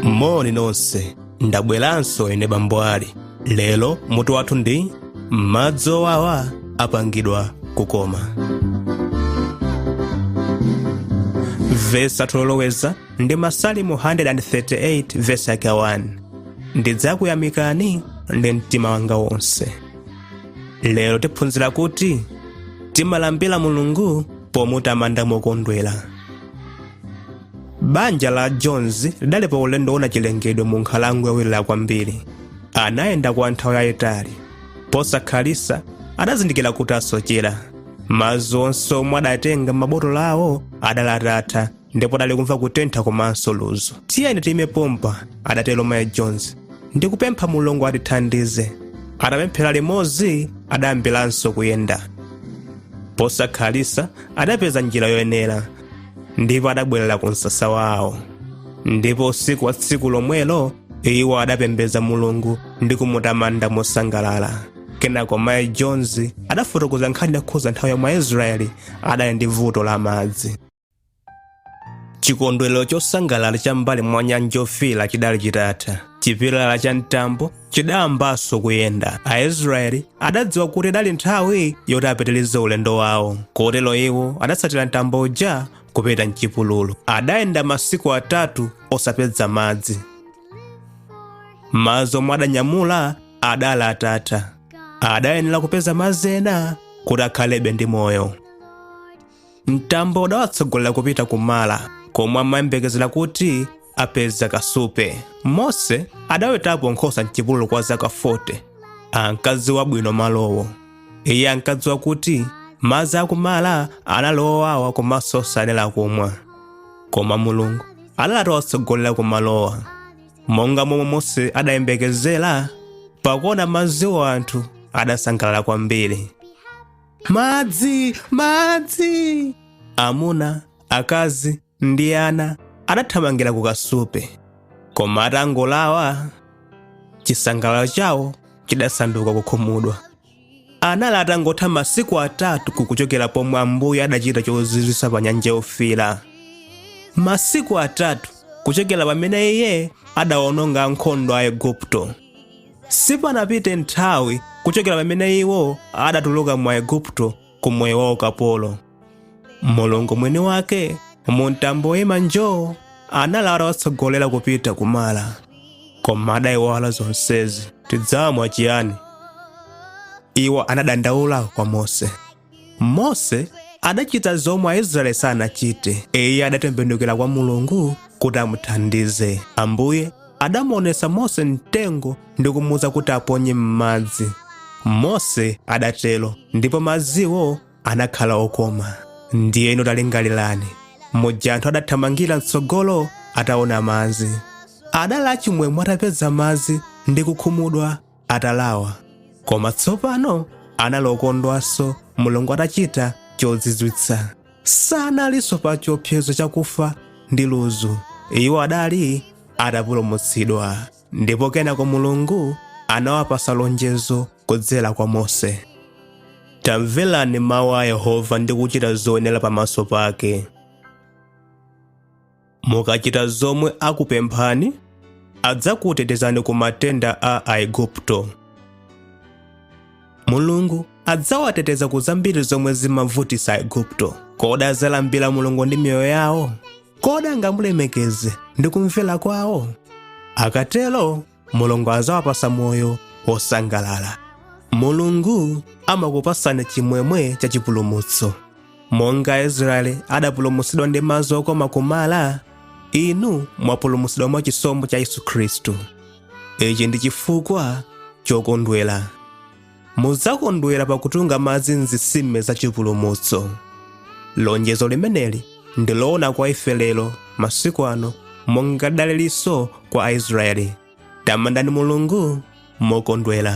moni nonse ndabweranso ine bambo ali lero mutu wathu ndi madzi owawa apangidwa kukoma vesi yoloweza ndi masalimo 138 vesi yake 1 ndidzakuyamikani ndi mtima wanga wonse lero tiphunzira kuti timalambira mulungu pomutamanda mokondwera banja la jones lidali pa ulendo woona chilengedwe mu nkhalango yowirira kwambiri anayenda kwa nthawi yayitali posakhalisa adazindikira kuti asochera madzi onse omwe adatenga m'mabotolo awo adali atatha ndipo adali kumva kutentha komanso ludzu tiyeni tiyime pompa adatero mayi jones ndikupempha mulungu atithandize atapemphera limodzi adayambiranso kuyenda posakhalitsa adapeza njira yoyenera ndipo adabwerera ku msasa wawo ndipo usiku wa tsiku lomwelo iwo adapembedza mulungu ndi kumutamanda mosangalala kenako mayi jones adafotokoza nkhani yokhudza nthawi yomwe aisraeli adali ndi vuto la madzi chikondwerero chosangalala cha m'mbali mwa nyanja yofiira chidali chitatha chipilala cha mtambo chidayambanso kuyenda aisraeli adadziwa kuti idali nthawi yoti apitirize ulendo wawo kotero iwo adatsatira mtambo uja kupita mchipululu adayenda masiku atatu osapeza madzi madzi omwe adanyamula adali atatha adayenera kupeza madzi ena kuti akhalebe ndi moyo mtambo udawatsogolera kupita ku mara komwe amayembekezera kuti apeza kasupe mose adawetapo nkhosa mchipululu kwa zaka 40 ankadziwa bwino malowo iye ankadziwa kuti madzi a ku mara anali owawa komanso osayenera kumwa koma mulungu adali atawatsogolera ku malowo monga momwe mose adayembekezera pakuona madziwo anthu adasangalala kwambiri madzi madzi amuna akazi ndi ana adathamangira ku kasupe koma atangolawa chisangalalo chawo chidasanduka kukhumudwa anali atangotha masiku atatu kuchokera pomwe ambuye adachita chozizwitsa pa nyanja yofiira masiku atatu kuchokera pamene iye adawononga ankhondo a igupto Sipanapite nthawi kuchokera pamene iwo adatuluka mu Aigupto ku moyo wa ukapolo. Mulungu mwini wake mu mtambo woyima njoo anali atawatsogolera kupita ku Mara, koma adayiwala zonsezi. Tidzamwa chiyani? Iwo anadandaula kwa Mose. mose adachita zomwe aisraeli sanachite iye adatembenukira kwa mulungu kuti amuthandize ambuye adamuonesa mose mtengo ndi kumuuza kuti aponye m'madzi mose adatero ndipo madziwo anakhala okoma ndiyeno talingalirani muja anthu adathamangira mtsogolo ataona madzi adali achimwemwe atapeza madzi ndi kukhumudwa atalawa koma tsopano anali okondwanso mulungu atachita chozizwitsa sanalinso pa chiopsezo chakufa ndi ludzu iwo adali atapulumutsidwa ndipo kenako mulungu anawapatsa lonjezo kudzera kwa mose tamverani mawu a yehova ndi kuchita zoyenera pamaso pake mukachita zomwe akupemphani adzakutetezani ku matenda a aigupto mulungu adzawateteza ku zambiri zomwe zimavutitsa aigupto kodi adzalambira mulungu ndi miyoyo yawo kodi angamulemekeze ndi kumvera kwawo akatero mulungu adzawapatsa moyo wosangalala mulungu amakupatsani chimwemwe cha chipulumutso monga aisraeli adapulumutsidwa ndi madzi okoma ku mara inu mwapulumutsidwa mwa chisomo cha yesu khristu ichi ndi chifukwa chokondwera mudzakondwera pakutunga madzi m'zitsime za chipulumutso lonjezo limeneli ndi loona kwa ife lero masiku ano monga lidalilinso kwa aisraeli tamandani mulungu mokondwera